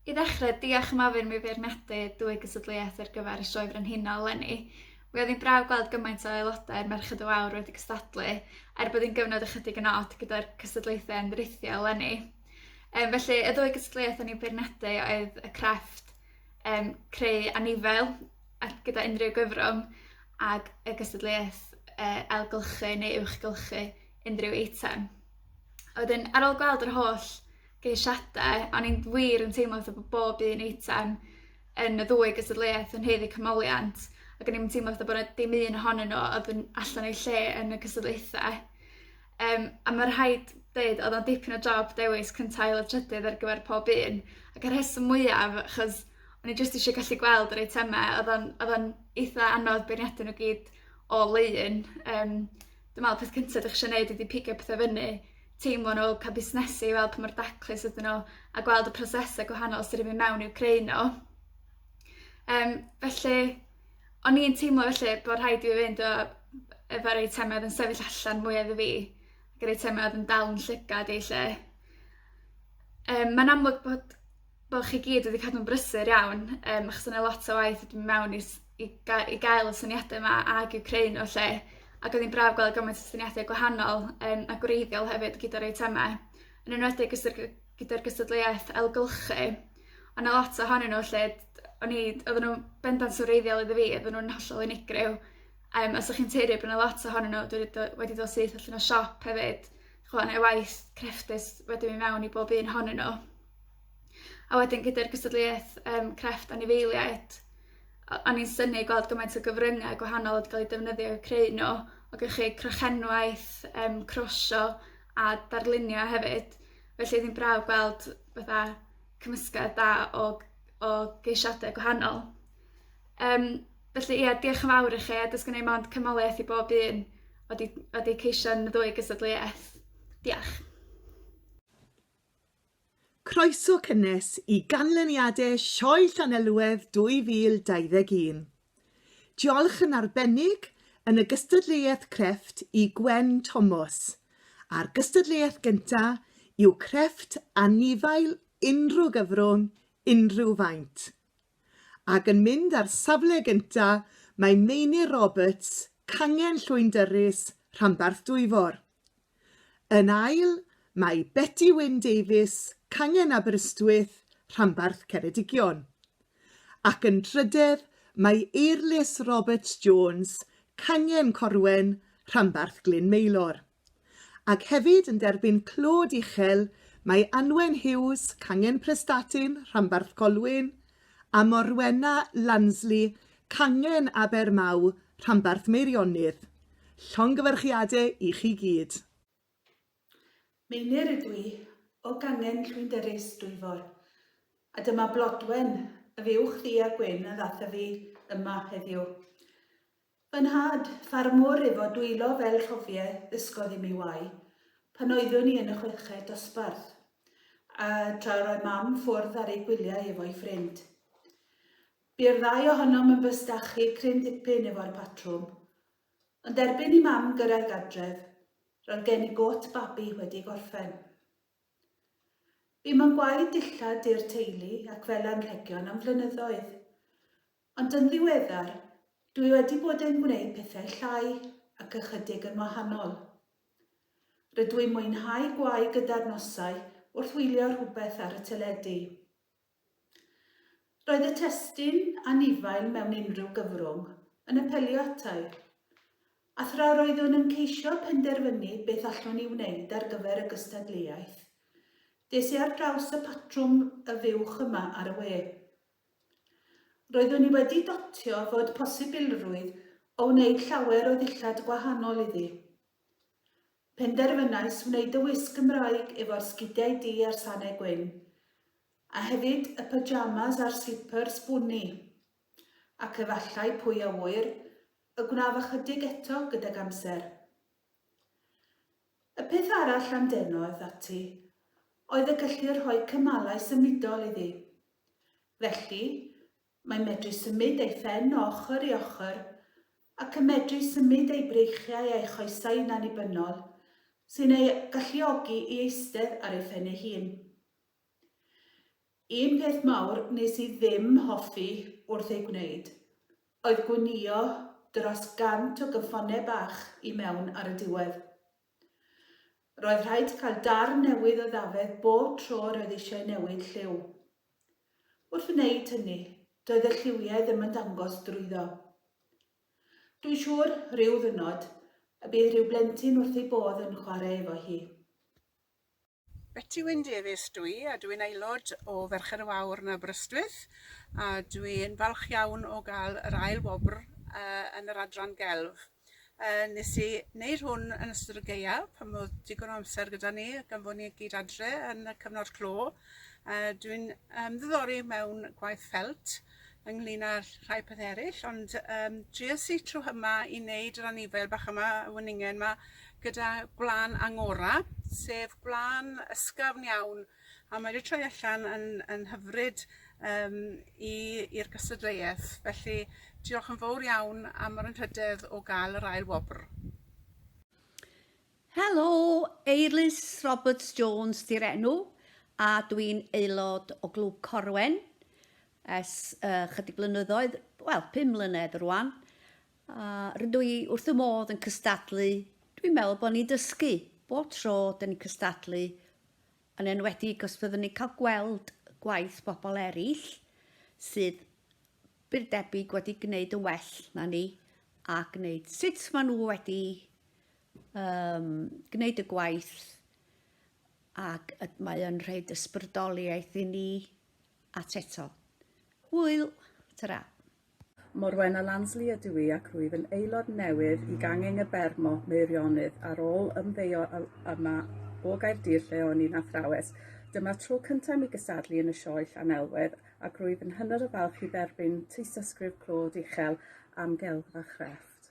I ddechrau, diolch am ofyn mi feirniadu dwy gystadleuaeth ar gyfer y Sioe Frenhinol lenni. Mi oedd hi'n braf gweld gymaint o aelodau'r Merched y Wawr wedi cystadlu, er bod hi'n gyfnod ychydig yn od gyda'r cystadlaethau yn drithiol lenni. Um, felly, y ddwy gystadleuaeth o'n i'n beirniadu oedd y crefft um, creu anifail ac gyda unrhyw gyfrwng ac y gystadleuaeth uh, ailgylchu neu uwchgylchu unrhyw eitem. A wedyn, ar ôl gweld yr holl geisiadau, o'n i'n wir yn teimlo fatha bod bob un eitem yn y ddwy gystadleuaeth yn heiddi cymoliant, ac o'n i'n teimlo fatha bod yna dim un ohonyn nhw oedd yn allan o'i lle yn y cystadleuaethau. Yym a ma' rhaid deud odd o'n dipyn o job dewis cynta ail a trydydd ar gyfer pob un, ac y rheswm mwyaf achos o'n i jyst ishe gallu gweld yr eiteme odd o'n odd o'n eitha anodd beirniadu nw gyd o leiun yym dwi me'wl peth cynta 'dych chi isio neud ydi pigo pethe fyny, teimlo nw, ca'l busnesu i weld pa mor daclus ydyn nw, a gweld y prosese gwahanol sy' 'di myn' mewn i'w creu nw. Yym felly O'n i'n teimlo felly bo' rhaid i fi fynd a efo'r eitem oedd yn sefyll allan mwya iddo fi ac yr eitem oedd yn dal 'yn llygad i 'lly. Yym ma'n amlwg bod bo' chi gyd wedi cadw'n brysur iawn yym achos o' 'na lot o waith wedi myn' mewn i s- i ga- i gael y syniade 'ma ag i'w creu n'w 'lly ac o'dd 'i'n braf gweld gymaint o syniade gwahanol yym a gwreiddiol hefyd gyda'r eitema yn enwedig os yw gy- gyda'r gystadleuaeth ailgylchu. O' 'na lot ohonyn n'w lle d- o'n i oddan nw'n bendant yn wreiddiol iddo fi oddan nw'n hollol unigryw yym a 'sych chi'n tueddu bo' 'na lot ohonyn n'w dwi 'di do- wedi dod syth allan o siop hefyd ch'mo' neu waith crefftus wedi myn' mewn i bob un ohonyn n'w. A wedyn gyda'r cystadleuaeth yym crefft anifeiliaid o- o'n i'n synnu gweld gymaint o gyfrynga' gwahanol wedi ca'l 'u defnyddio i'w creu n'w o gynnychu crochenwaith yym crosio a darlunio hefyd Felly oedd hi'n braf gweld fatha cymysgedd da o o geisiadau gwahanol. Yym felly ie diolch yn fawr i chi a does gen i mond cymoliaeth i bob un o di o di ceisian y ddwy gystadleuaeth. Diolch. Croeso cynnes i ganlyniadau Sioe Llanelwedd 2021. Diolch yn arbennig yn y gystadleuaeth crefft i Gwen Tomos, a'r gystadleuaeth gyntaf yw crefft anifail unrhyw gyfrwng, unrhyw faint. Ac yn mynd ar safle gyntaf mae Meinir Roberts, Cangen Llwyndyrys, Rhanbarth Dwyfor. Yn ail, mae Beti Wyn Davies, Cangen Aberystwyth, rhanbarth Ceredigion. Ac yn drydedd, mae Eirlys Roberts Jones, Cangen Corwen, rhanbarth Glyn Maelor. Ac hefyd yn derbyn clod uchel, mae Anwen Hughes, Cangen Prestatyn, rhanbarth Colwyn, a Morwenna, Lansley, Cangen, Abermaw, Rhanbarth Meirionnydd. Llongyfarchiade i chi gyd. Meinir ydw i, o gangen llwynderus Dwyfor, a dyma Blodwen, y fuwch ddu a gwyn a ddath â fi yma heddiw. Fy nhad, ffarmwr efo dwylo fel rhofie, ddysgodd i mi wau, pan oeddwn i yn y chweched dosbarth, a tra yr oedd Mam ffwrdd ar ei gwyliau efo'i ffrind. Bu'r ddau ohonom yn bystachu cryn ddipyn efo'r patrwm. Ond erbyn i Mam gyrraedd gadref, roedd gen i got babi wedi gorffen. Bum yn gwaed dillad i'r teulu ac fel anrhegion am flynyddoedd. Ond yn ddiweddar, dwi wedi bod yn gwneud pethau llai ac ychydig yn wahanol. Rydw i'n mwynhau gwau gyda'r nosau wrth wylio rhywbeth ar y teledu. Roedd y testun anifail mewn unrhyw gyfrwng yn apelio ata i, a thra roeddwn yn ceisio penderfynu beth allwn i wneud ar gyfer y gystadleuaeth, des i ar draws y patrwm 'Y Fuwch Yma' ar y we. Roeddwn i wedi dotio fod posibilrwydd o wneud llawer o ddillad gwahanol iddi. Penderfynais wneud y wisg Gymraeg efo'r sgidiau du a'r sane gwyn, a hefyd y pyjamas a'r slipyrs bwni. Ac efallai, pwy a ŵyr, y gwnaf ychydig eto gydag amser. Y peth arall am deno, eth ati, oedd y gellu rhoi cymalau symudol iddi. Felly, mae'n medru symud ei phen o ochr i ochr, ac yn medru symud ei breichiau a'i choesau yn annibynnol, sy'n ei galluogi i eistedd ar ei phen ei hun. Un peth mawr nes i ddim hoffi wrth ei gwneud, oedd gwnïo dros gant o gyffonne bach i mewn ar y diwedd. Roedd rhaid cael darn newydd o ddafedd bob tro roedd eisiau newid lliw. Wrth wneud hynny, doedd y lliwiau ddim yn dangos drwyddo. Dwi'n siŵr, rhyw ddynod, y bydd rhyw blentyn wrth ei bodd yn chwarae efo hi. Beti Wyn Davies dw i a dw i'n aelod o Ferched y Wawr yn Aberystwyth a dw i'n falch iawn o gael yr ail wobr yn yr adran gelf. Nes i wneud hwn yn ystod y gaeaf pan oedd digon o amser gyda ni gan fod ni gyd adre yn y cyfnod clo. Dw i'n ymddiddori mewn gwaith ffelt ynglŷn â'r rhai pethe eryll ond yym dries i trw hyma i neud yr anifail bach yma y weningen 'ma gyda gwlân angora, sef gwlân ysgafn iawn a mae 'di troi allan yn yn hyfryd yym i i'r gystadleueth felly diolch yn fowr iawn am yr anrhydedd o ga'l yr ail wobr. Helo, Eirlys Roberts Jones 'di'r enw a dwi'n aelod o Glwb Corwen ers ychydig blynyddoedd, wel, pum mlynedd rwan. A rydw i wrth fy modd yn cystadlu, dwi'n meddwl bod ni'n dysgu bob tro 'da ni'n cystadlu, yn enwedig os byddwn ni'n cael gweld gwaith bobl eraill sydd byr debyg wedi gwneud yn well na ni a gwneud sut maen nhw wedi um, gwneud y gwaith ac mae yn rhoi ysbrydoliaeth i ni at eto. Hwyl! Ta-ra! Morwenna Lansley ydw i ac rwyf yn aelod newydd i Gangeng y Bermo, Meirionydd, ar ôl ymddeio yma o Gaerdydd lle o'n i'n athrawes. Dyma'r tro cyntaf i mi gysadlu yn y sioe Llanelwedd ac rwyf yn hynod o falch i dderbyn tystysgrif Claude Uchel am Gelf a Chrefft.